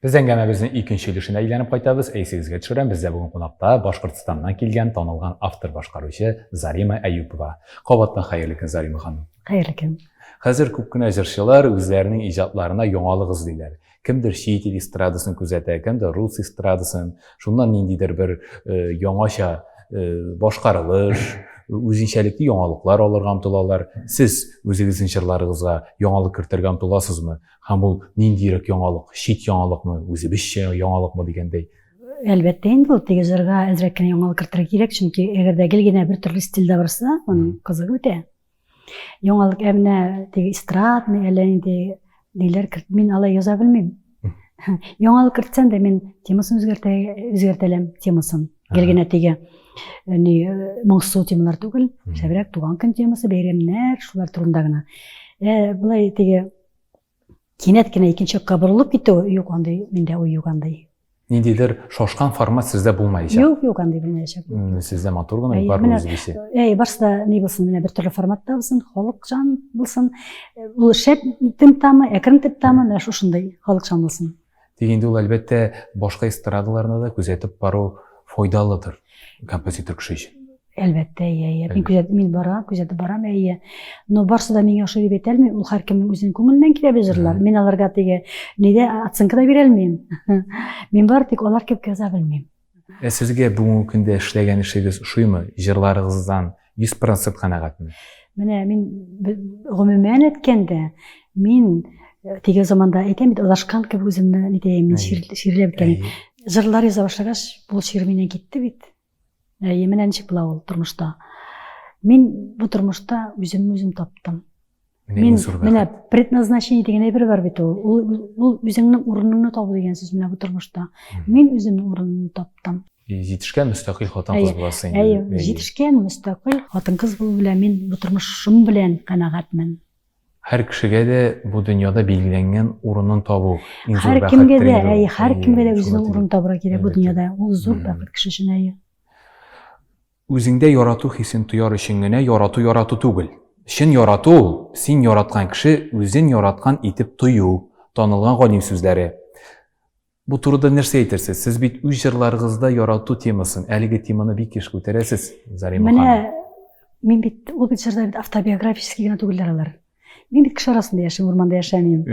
Без әңгәмәбезнең икенче өлешенә әйләнеп кайтабыз. Әйсегезгә төшерәм, бездә бүген кунакта Башкортстаннан килгән танылган автор башкаручы Зарима Әюпова. Кабаттан хәерле көн, Зарима ханым. Хәерле көн. Хәзер күп кенә җырчылар үзләренең иҗатларына яңалык эзлиләр. Кемдер чит ил эстрадасын күзәтә, кемдер рус эстрадасын. Шуннан ниндидер бер э, яңача э, башкарылыш, үзенчәлекле яңалыклар алырга омтылалар. Сез үзегезнең җырларыгызга яңалык кертергә омтыласызмы? Һәм ул ниндирәк яңалык, чит яңалыкмы, үзебезчә яңалыкмы дигәндәй? Әлбәттә инде ул теге җырга әзрәк кенә яңалык кертергә кирәк, чөнки әгәр дә гел генә бер төрле стильдә барса, аның кызыгы бетә. Яңалык әмнә теге эстрадный әллә инде ниләр керт. Мин алай яза белмим. Яңалык кертсәм дә мин темасын үзгәртә, үзгәртәләм темасын. Гел генә теге ни моңсу темалар түгел, шәбрәк туган көн темасы, бәйрәмнәр, шулар турында гына. Ә былай теге Кинәт кенә икенче якка борылып китү, юк, андый миндә уй юк андый. Ниндидер шашкан формат сездә булмаячак. Юк, юк, андый булмаячак. Сездә матур гына югары үзе бисе. Әй, барсы да ни булсын, менә бер төрле форматта булсын, халыкчан булсын. Ул шәп темп тамы, әкрен темп тамы, менә шушындай халыкчан булсын. Тик инде ул, әлбәттә, башка эстрадаларны да күзәтеп бару файдалыдыр композитор кеше өчен. Әлбәттә, иә, иә. Мин күзәт, мин барам, күзәтеп барам, иә. Но барсы да миңа ошый дип әйтә алмыйм. Ул һәркемнең үзенең күңеленнән килә бит җырлар. Мин аларга теге нидә оценка да бирә алмыйм. Мин бары тик алар кебек яза белмим. Ә сезгә бүгенге көндә эшләгән эшегез ошыймы? Җырларыгыздан 100% канәгатьме? Менә мин гомумән әйткәндә, мин э, теге заманда әйтәм бит, адашкан кебек үземне нитәем, мин ширләп үткән. Җырлар яза башлагач, бу шир миннән китте бит. Әйе, менә ничек була ул тормышта. Мин бу тормышта үземне үзем таптым. Мин менә предназначение дигән әйбер бар бит ул. Ул үзеңнең урыныңны табу дигән сүз менә бу тормышта. Мин үземнең урынымны таптым. Җитешкән мөстәкыйль хатын-кыз буласы инде. Әйе, җитешкән мөстәкыйль хатын-кыз булу белән мин бу тормышым белән канәгатьмен. Һәр кешегә дә бу дөньяда билгеләнгән урынын табу иң зур бәхет. Һәр кемгә дә, әйе, һәр кемгә дә үзенең урынын табырга кирәк бу дөньяда. Ул зур бәхет кеше өчен әйе. Үзеңдә ярату хисен тояр өчен генә ярату ярату түгел. Чын ярату ул, син яраткан кеше үзен яраткан итеп тою, танылган галим сүзләре. Бу турыда нәрсә әйтерсез? Сез бит үз җырларыгызда ярату темасын, әлеге теманы бик еш күтәрәсез, Зарима ханым. Менә мин бит, ул бит җырлар бит автобиографический генә түгелләр алар. Мин бит кеше арасында яшим, урманда яшәмим.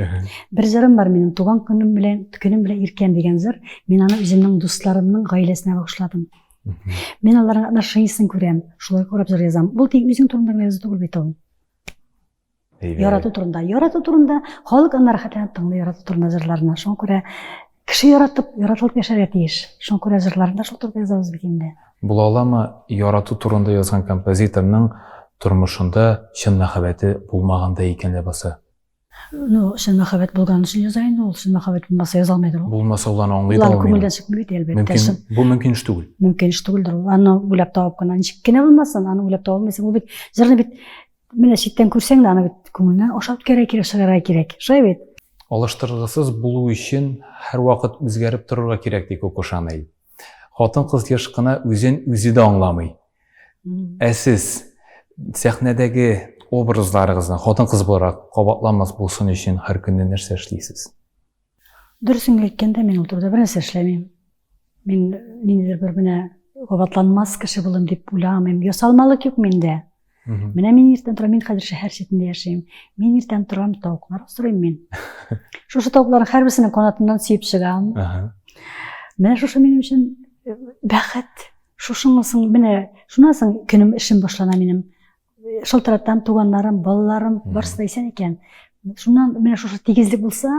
Бер җырым бар минем, туган көнем белән, көнем белән иркәм дигән җыр. Мин аны үземнең дусларымның гаиләсенә багышладым. Мин аларның отношениясен күрәм, шулай карап җыр язам. Бу тик үзең турында гына язу түгел бит ул. Ярату турында. Ярату турында халык аны рәхәтләнеп тыңлый, ярату турында җырларны. Шуңа күрә Кеше яратып, яратылып яшәргә тиеш. Шуңа күрә җырларны да шул турыда язабыз бит инде. Була аламы, ярату турында язган композиторның тормышында чын мәхәббәте булмагандай икән ләбаса? Ну, чын мәхәббәт булган өчен яза инде ул. Чын мәхәббәт булмаса яза алмыйдыр ул. Булмаса ул аны аңлый да Улар алмый. күңелдән чыкмый бит, әлбәттә. Мөмкин, чын- бу мөмкин эш түгел. Мөмкин эш түгелдер ул. Аны уйлап табып кына ничек кенә булмасын, аны уйлап таба алмыйсың. Ул бит җырны бит Менә читтән күрсәң дә аны бит күңелнән ашап үткәрә кирәк, чыгара кирәк. Шулай бит? Алыштыргысыз булу өчен һәрвакыт үзгәреп торырга кирәк, ди Коко Шанель. Хатын-кыз еш кына үзен үзе дә аңламый. Ә сез сәхнәдәге образларыгызны хатын-кыз буларак кабатламас булсын өчен һәр көнне нәрсә эшлисез? Дөресен әйткәндә, мин ул турыда бернәрсә эшләмим. Мин ниндидер бер менә кабатланмас кеше булым дип уйламыйм. Ясалмалык юк миндә. Менә мин иртән торам, мин хәзер шәһәр читендә яшим. Мин иртән торам, тавыклар асрыйм мин. Шушы тавыкларның һәрберсенең канатыннан сөеп чыгам. Менә шушы минем өчен э, бәхет. Шушыңысың, менә шуннан соң көнем эшем башлана минем. шылтыратам туганнарым балаларым барысы да исән икән шуннан менә шушы тигезлек булса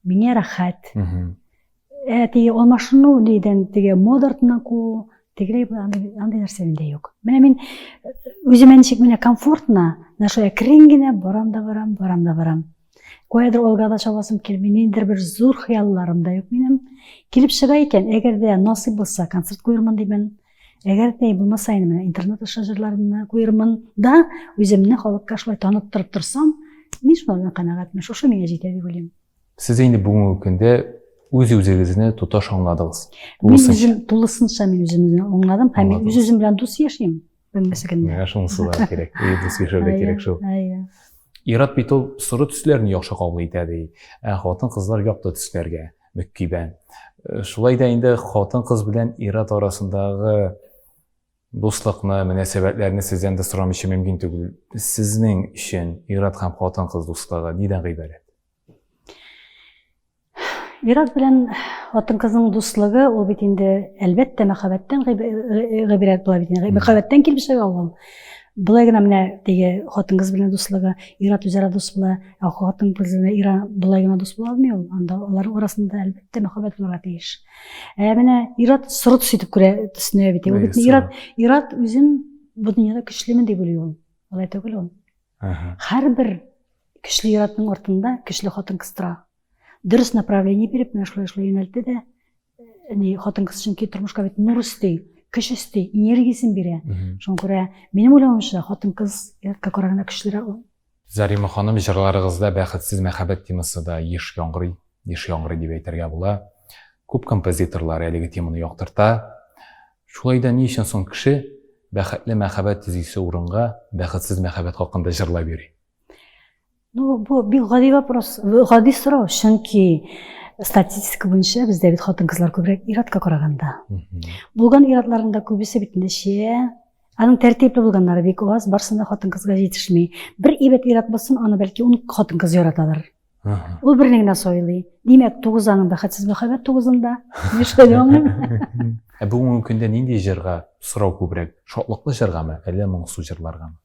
миңа рәхәт ә теге алмашыну нидән теге мода артыннан куу тегеләй андай андай нәрсә миндә юк менә мин э, үземә ничек менә комфортно нашла керим генә барам да барам барам да барам Каядыр алга да чабасым килми, ниндидер бер зур хыялларым да юк минем. Килеп чыга икән, әгәр дә насыйп булса, концерт куермын димән. Әгәр дә булмаса инде менә интернет аша җырларымны куермын да, үземне халыкка шулай таныттырып торсам, мин шулардан канәгатьмен, шушы миңа җитә дип уйлыйм. Сез инде бүгенге көндә үз үзегезне тоташ аңладыгыз. Мин үзем тулысынча мин үземне аңладым һәм мин үз-үзем белән дус яшим. Белмәсә генә. Миңа шунысы да кирәк. И, дус яшәү дә кирәк шул. Әйе. Ират бит ул соры төсләрне яхшы кабул итә ди. Ә хатын-кызлар якты төсләргә мөккибә. Э, шулай да инде хатын-кыз белән ират арасындагы дуслыкны, мөнәсәбәтләрне сездән дә сорамыйча мөмкин түгел. Сезнең өчен ират һәм хатын-кыз дуслыгы нидән гыйбарәт? Ирак белән хатын-кызның дуслыгы ул бит инде әлбәттә мәхәббәттән гыйбрәт була бит. Мәхәббәттән килеп чыга ул. Былай гына менә теге хатын-кыз белән дуслыгы, ир-ат үзара дус була, ә хатын-кыз белән ир былай гына дус була алмый ул. Анда аларның арасында әлбәттә мәхәббәт булырга тиеш. Ә менә ир-ат соры төс итеп күрә, төсенә бит. Ул бит ир-ат, ир-ат үзен бу дөньяда көчлемен дип уйлый ул. Алай түгел ул. Һәрбер көчле ир-атның артында көчле хатын-кыз тора. Дөрес направление биреп, менә шулай шулай юнәлтте дә, ни хатын-кыз чөнки тормышка бит нур өсти, көч өсти, энергиясен бирә. Шуңа күрә минем уйлавымча, хатын-кыз ир-атка караганда көчлерәк ул. Зарима ханым, җырларыгызда бәхетсез мәхәббәт темасы да еш яңгырый. Еш яңгырый дип әйтергә була. Күп композиторлар әлеге теманы яктырта. Шулай да ни өчен соң кеше бәхетле мәхәббәт төзисе урынга бәхетсез мәхәббәт хакында җырлап йөри? Ну, бу бик гади вопрос, гади сорау, чөнки статистика буенча бездә бит хатын-кызлар күбрәк иратка караганда. Булган иратларында күбесе бит нәшия, Аның тәртипле булганнары бик аз, барсында хатын-кызга җитешми. Бер ибәт ират булсын, аны бәлки ун хатын-кыз яраталар. Ул берне генә сайлый. Димәк, тугыз аның бәхетсез мәхәббәт тугызында. Нишләде аңлыйм. Ә бүгенге көндә нинди җырга сорау күбрәк? Шатлыклы җыргамы, әллә моңсу җырларгамы?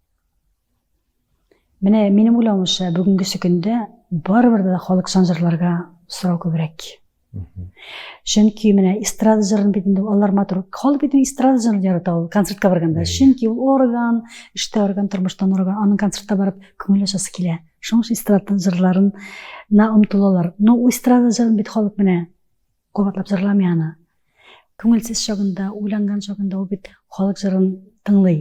Менә минем уйлавымча, бүгенгесе көндә барыбер дә халыкчан җырларга сорау күбрәк. чөнки менә эстрада җырын бит инде алар матур халык бит эстрада җырын ярата ул концертка барганда чөнки ул орган эштә орган тормыштан орган аның концертка барып күңел ачасы килә шуның өчен эстрада җырларына омтылалар но эстрада җырын бит халык менә кабатлап җырламый аны күңелсез чагында уйланган чагында ул бит халык җырын тыңлый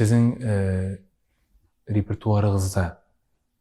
Сезнең э, репертуарыгызда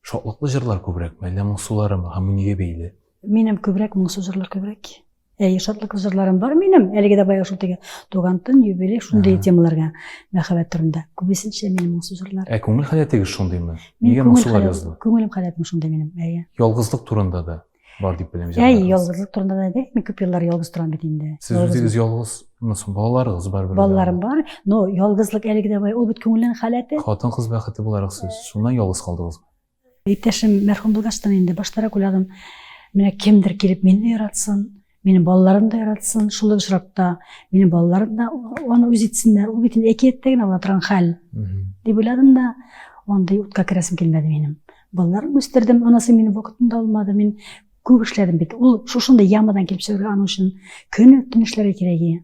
шатлыклы җырлар күбрәк мәллә моңсулары ма һәм нигә бәйле? Минем күбрәк моңсу җырлар күбрәк. Әй, шатлыклы җырларым бар минем. Әлеге дә баягы шул теге туган төн, юбилей шундый темаларга мәхәббәт турында. Күбесенчә минем моңсу җырлар. Ә күңел халәтегез шундыймы? Нигә моңсулар язды? Күңелем халәтем шундый минем. Әйе. Ялгызлык турында да бар дип беләм ә ялгызлык турында да әйтәйекме күп еллар ялгыз торам бит инде сез үзегез ялгызмы соң балаларыгыз бар бер балаларым бар но ялгызлык әлеге дә ул бит күңелнең халәте хатын кыз бәхете буларак сез шуннан ялгыз калдыгызмы иптәшем мәрхүм булгачтан инде баштарак уйладым менә кемдер килеп мине яратсын Минем балаларым да яратсын, шул ук очракта минем балаларым да аны үз итсеннәр. Ул бит әкияттә генә була торган хәл. Дип уйладым да, андый утка керәсем килмәде минем. Балаларым үстердем, анасы мине вакытында алмады. Мин күп эшләдем бит. Ул шушында ямадан килеп чыгар аның өчен көне төн эшләргә кирәк иде.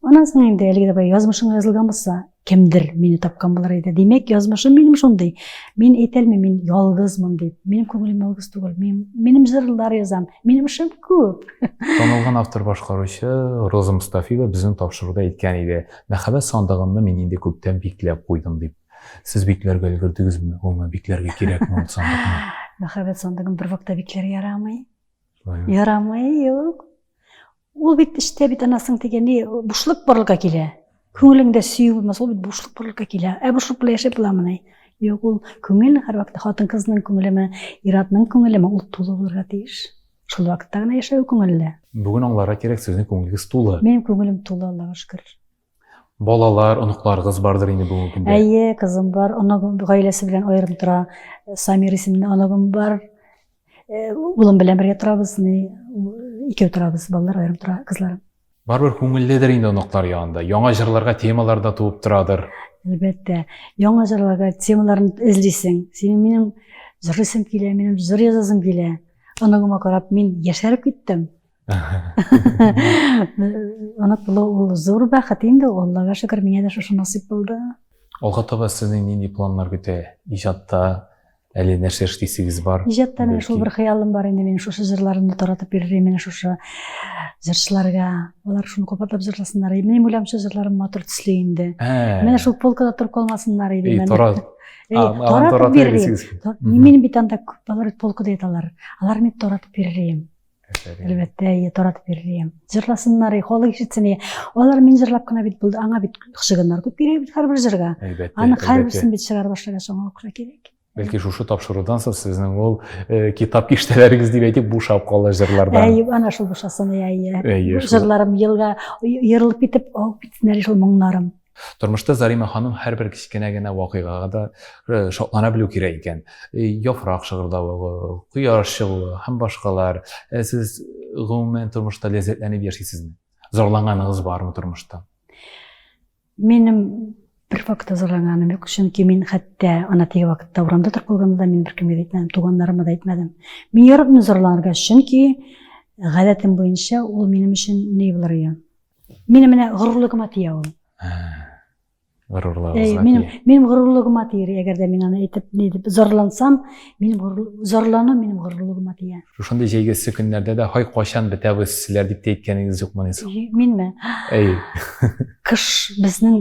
Анан соң инде әлеге дә язмышыңа язылган булса, кемдер мине тапкан булыр иде. Димәк, язмышым минем шундый. Мин әйтәлмим, мин ялгызмын дип. Минем күңелем ялгыз түгел. Мин, минем җырлар язам. Минем эшем күп. Танылган автор башкаручы Роза Мустафиева безнең тапшыруда әйткән иде. Мәхәббәт сандыгымны мин инде күптән бикләп куйдым дип. Сез бикләргә өлгердегезме? Гомумән бикләргә кирәкме ул сандыкны? Мәхәббәт сандыгын бер вакытта бикләргә ярамый. Ярамый, юк. Ул бит эчтә бит анасының дигәне бушлык барлыкка килә. Күңелеңдә сөю булмас, ул бит бушлык барлыкка килә. Ә бушлык белән яшәп буламыни? Юк, ул күңел һәрвакытта хатын-кызның күңелеме, ир-атның күңелеме, ул тулы булырга тиеш. Шул вакытта гына яшәве күңелле. Бүген аңларга кирәк, сезнең күңелегез тулы. Минем күңелем тулы, Аллага шөкер. Балалар, оныкларыгыз бардыр инде бүгенге көндә. Әйе, кызым бар, оныгым гаиләсе белән аерым тора. Самир исемле оныгым бар. Э, улым белән бергә торабыз, ни, икәү торабыз, балалар аерым тора, кызларым. Барыбер күңелледер инде оныклар янында. Яңа җырларга темалар да туып торадыр. Әлбәттә, яңа җырларга темаларын эзлисең. Синең минем җырлыйсым килә, минем җыр язасым килә. Оныгыма карап, мин яшәреп киттем. Онат булу ул зур бәхет инде, Аллага шөкер, миңа да шушы насыйп булды. Алга таба сезнең нинди планнар көтә? Иҗатта әле нәрсә эшлисегез бар? Иҗатта менә шул бер хыялым бар инде, мин шушы җырларымны таратып йөрим, менә шушы җырчыларга. Алар шуны кабатлап җырласыннар. Мин уйлам, шушы җырларым матур төсле инде. Менә шул полкада торып калмасыннар иде. Эй, тарат. Таратып бирим. Мин бит анда күп балалар полкада яталар. Алар мин таратып бирим. Әлбәттә, әйе, таратып бирелгән. Җырласыннар, халык ишетсен. Алар мин җырлап кына бит булды. Аңа бит шыгыннар күп кирәк бит һәрбер җырга. Әлбәттә. Аны һәрберсен бит чыгарып башлаган соң акча кирәк. Бәлки шушы тапшырудан соң сезнең ул э, китап киштәләрегез дип әйтик бушап кала җырлардан. Әйе, ана шул бушасын, әйе. Әйе. Җырларым елга ерылып китеп, агып китсеннәр шул моңнарым. Тормышта Зарима ханым һәрбер кечкенә генә вакыйгага да шатлана белү кирәк икән. Яфрак шыгырдавы, кояш чыгуы һәм башкалар. Сез гомумән тормышта ләззәтләнеп яшисезме? Зарланганыгыз бармы тормышта? Минем бер вакытта зарланганым юк, чөнки мин хәтта ана теге вакытта урамда торып калганда мин беркемгә дә әйтмәдем, туганнарыма да әйтмәдем. Мин яратмыйм зарланырга, чөнки гадәтем буенча ул минем өчен ни булыр икән? Минем менә горурлыгыма тия ул. Горурлыгыгызга э, минем, минем горурлыгыма тиер, әгәр дә мин аны әйтеп, ни дип, зарлансам, минем зарлану минем горурлыгыма тия. Шушындый җәйгесе көннәрдә дә һай кайчан бетәбез сезләр дип тә әйткәнегез юкмы ни соң? Минме? Әй. Кыш безнең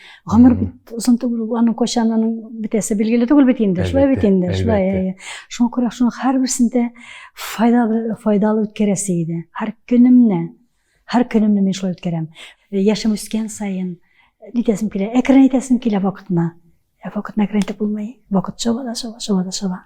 гомер бит озын түгел аның кайчан аның бетәсе билгеле түгел бит инде шулай бит инде шулай иә, иә. шуңа күрә шуның һәрберсен дә файдалы файдалы үткәрәсе иде һәр көнемне һәр көнемне мин шулай үткәрәм э, яшем үскән сайын э, нитәсем килә әкрен әйтәсем килә вакытына ә вакытына әкрен итеп булмый вакыт шаба да шаба шаба да шаба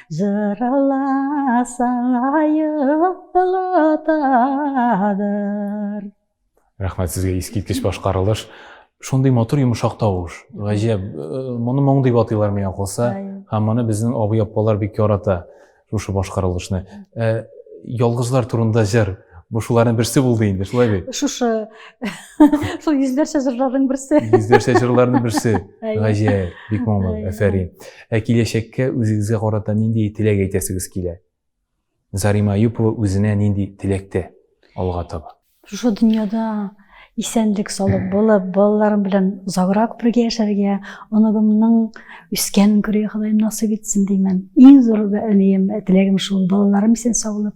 Җыраласаң аелатадыр. Рәхмәт сезгә, искиткеч башкарылыш. Шундый матур йомшак тавыш. Гаҗәп, моны моң дип атыйлар миңа калса. Һәм моны безнең абый-апалар бик ярата, шушы башкарылышны. Ялгызлар турында җыр. Бу шуларның берсе булды инде, шулай бит? Шушы. Шул йөзләрчә җырларның берсе. Йөзләрчә җырларның берсе. Гаҗәеп, бик моңлы, әфәрин. Ә киләчәккә үзегезгә карата нинди теләк әйтәсегез килә? Зарима Юпова үзенә нинди теләктә алга таба? Шушы дөньяда исәнлек салып булып, балаларым белән озаграк бергә яшәргә, оногымның үскәнен күрергә Ходаем насыйп итсен димән. Иң зур теләгем шул, балаларым исән саулык.